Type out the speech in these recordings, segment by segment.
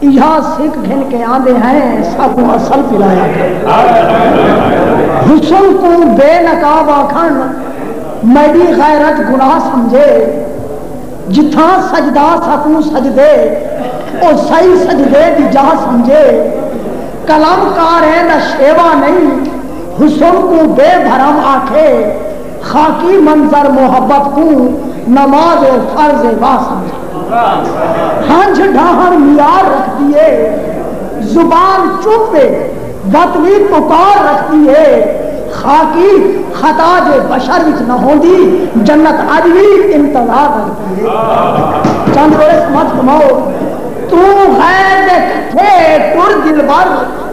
ایہا سک گھن کے آندے ہیں ساکوں اصل پلا یا کر حسن کوں بے نقاب آکھن میڈی غیرت گناہ سمجھے جتھاں سجدہ ساکوں سجدے او سئی سجدے دی جاہ سمجھے قلم کاریں دا شیوا نئیں حسن کوں بے بھرم آکھے خاکی منظر محبت کوں نماز فرض وا سمجھے۔ ہنجھ ڈاہنڑ میار رکھدی اے۔ زبان چپ اے وطنی پکار رکھدی اے۔ خاکی خطا جے بشر وچ نہ ہوندی جنت اج وی انتظار رکھدی اے۔ چند برس مت کماؤ توں غیر دے کٹھے ٹر دلبر۔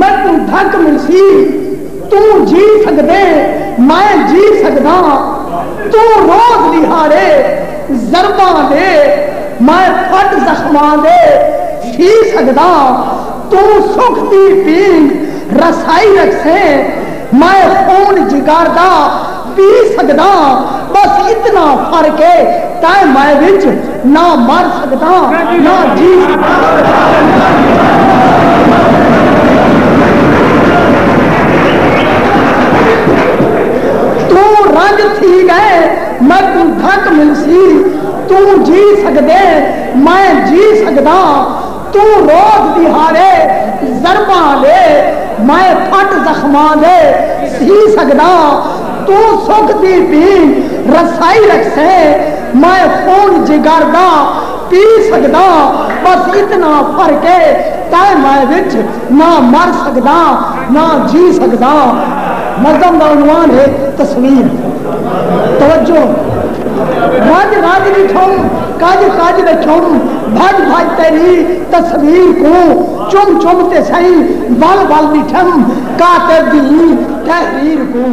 میکوں دھک ملسی توں جی سگدیں میں جی سگداں توں روز ݙیہاڑے ضرباں دے میں پھٹ زخماں دے تھی سگداں توں سکھ دی پینگ رسائی رکھسیں میں خون جگر دا پی سگداں بس اتنا فرق اے تائیں مائے وچ نہ مر سگداں نہ جی سگداں توں رنج تھی گئے میکوں دھک ملسی توں جی سگدیں مائیں جی سگداں توں روز ݙیہاڑے ضرباں لے میں پھٹ زخماں دے سی سڳداں توں سکھ دی پی رسائی رکھسیں میں خون جگر دا پی سڳداں بس اتنا فرق اے تیں میں وچ نہ مر سڳداں نہ جی سڳداں نظم دا عنوان ہے تصویر توجہ رڄ رڄ ݙٹھوں کج کج دے چھم بھج بھج تیری تصویر کوں چم چم تے سئیں ول ول ݙٹھم کاتب دی ایں تحریر کوں۔